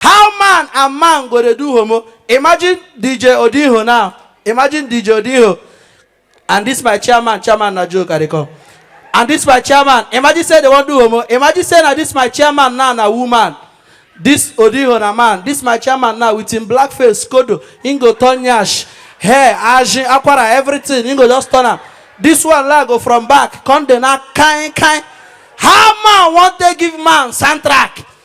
How man and man go dey do homo? Imagine DJ Odinho now. Imagine DJ Odinho. And this my chairman, chairman na joke I dey come. And this my chairman, imagine say they wan do homo. Imagine say na this my chairman now na woman. This Odinho na man. This my chairman now with him black face, kodo. Him go turn yash, hair, ajin, akwara, everything. Him go just turn am. This one now go from back, come dey now kind kind. How man wan take give man soundtrack?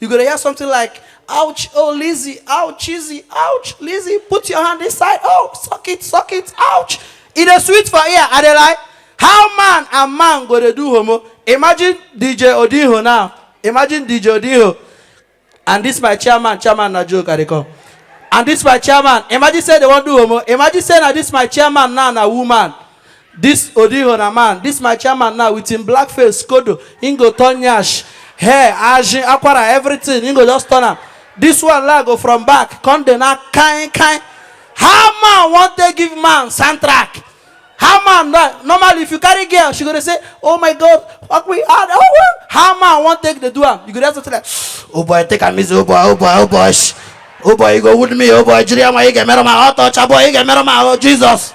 You go to hear something like, ouch, oh Lizzie, ouch, Lizzie, ouch, Lizzie, put your hand inside, oh, suck it, suck it, ouch. It is sweet for ear, and they like, how man and man go to do homo? Imagine DJ Odiho now. Imagine DJ Odiho. And this my chairman, chairman na joke, I come. And this my chairman, imagine say they won't do homo. Imagine say na this my chairman now na woman. This Odiho na man, this my chairman now with him black face, skodo, him go turn nyash, hair, ajin, akwara, everything, him go just turn am. This one la go from back, come dey na kain kain. How man wan take give man soundtrack? How man na normally if you carry girl, she go dey say, oh my god, fuck me hard, oh well. How man wan take dey do am? You go just say like, oh boy, take am easy, oh boy, oh boy, oh boy, shh. oh boy, you go wound me, oh boy, jiri ama, you get me roma, oh touch, oh boy, you get me roma, oh Jesus.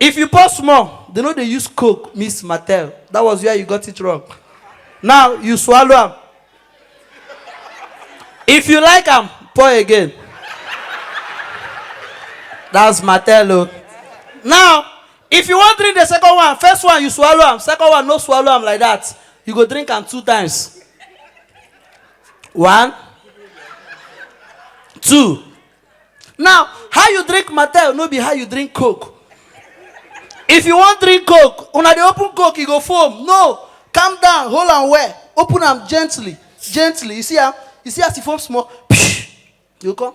If you pause small, they no dey use coke mix martel, that was where you got it wrong. Now you swallow am. If you like am, pour again. That's martel o. Now, if you wan drink the second one, first one you swallow am, second one no swallow am like that, you go drink am two times. One, two. Now, how you drink Mattel no be how you drink Coke. If you wan drink Coke, una dey open Coke, e go foam. No, calm down, hold am well, open am gently, gently. You see am? You see as e foam small? You go come.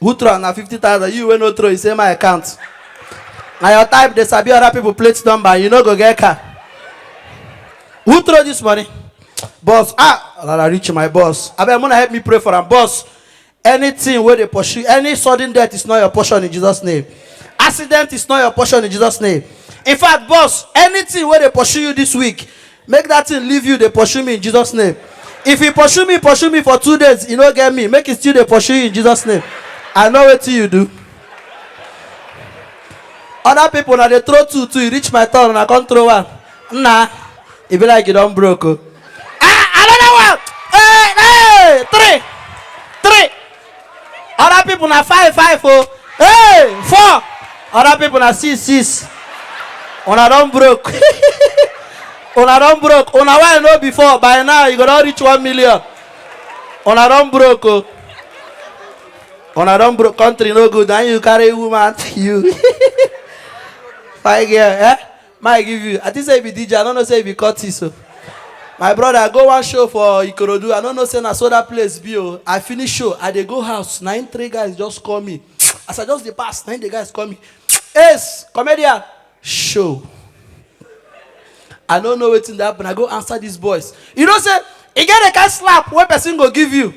who throw am na fifty thousand you wey no throw you say my account na your type dey sabi other people plate number and you no go get car who throw this money boss ah rara reach my boss abeg muna help me pray for am boss anything wey dey pursue any sudden death is not your portion in jesus name accident is not your portion in jesus name in fact boss anything wey dey pursue you this week make dat thing leave you dey pursue me in Jesus name if e pursue me pursue me for two days e no get me make e still dey pursue you in Jesus name I know wetin you do other people na dey throw two two e reach my turn una come throw one nna e be like you don broke o ah another one hey hey three other people na five five o hey four other people na six six una don broke una don broke una wey i know before by now you go don reach one million una don broke o una don broke country no good na you carry woman you fine girl eh. May I give you? I think say you be DJ. I don't know say you be Curtis. So. My brother, I go one show for Ikorodu. I don't know say na so that place be. Oh. I finish show. I dey go house. Na him three guys just call me. As I just dey pass, na him the guys call me. Ace, comedian, show. I don't know wetin dey happen. I go answer these boys. You know say e get a kind slap wey person go give you.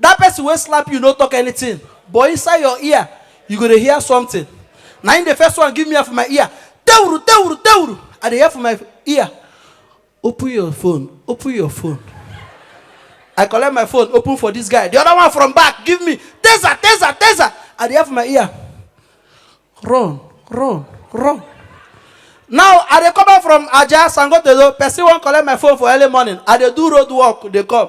That person wey slap you no talk anything. But inside your ear, you go dey hear something na im the first one give me am for my ear tewuru tewuru tewuru i dey hear for my ear open your phone open your phone i collect my phone open for this guy the other one from back give me taser taser taser i dey hear for my ear run run run now i dey come back from aja sangotedo person wan collect my phone for early morning i dey do road work dey come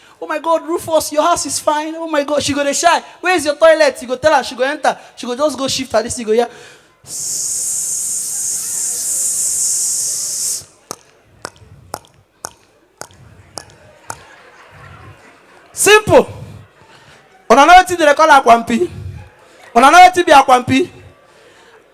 Oh my God, Rufus, your house is fine. Oh my God, she go dey shy. Where is your toilet? You go tell her, she go enter. She go just go shift her this, you go hear. Simple. Una know wetin dem dey call akwampi? Una know wetin be akwampi?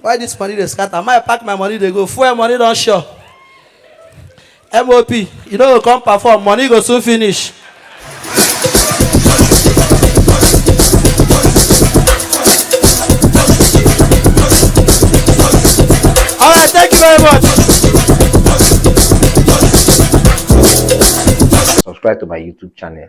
why this money dey scatter my pack my money dey go fuel money don sure mop you no go come perform money go soon finish. all right thank you very much. subscribe to my youtube channel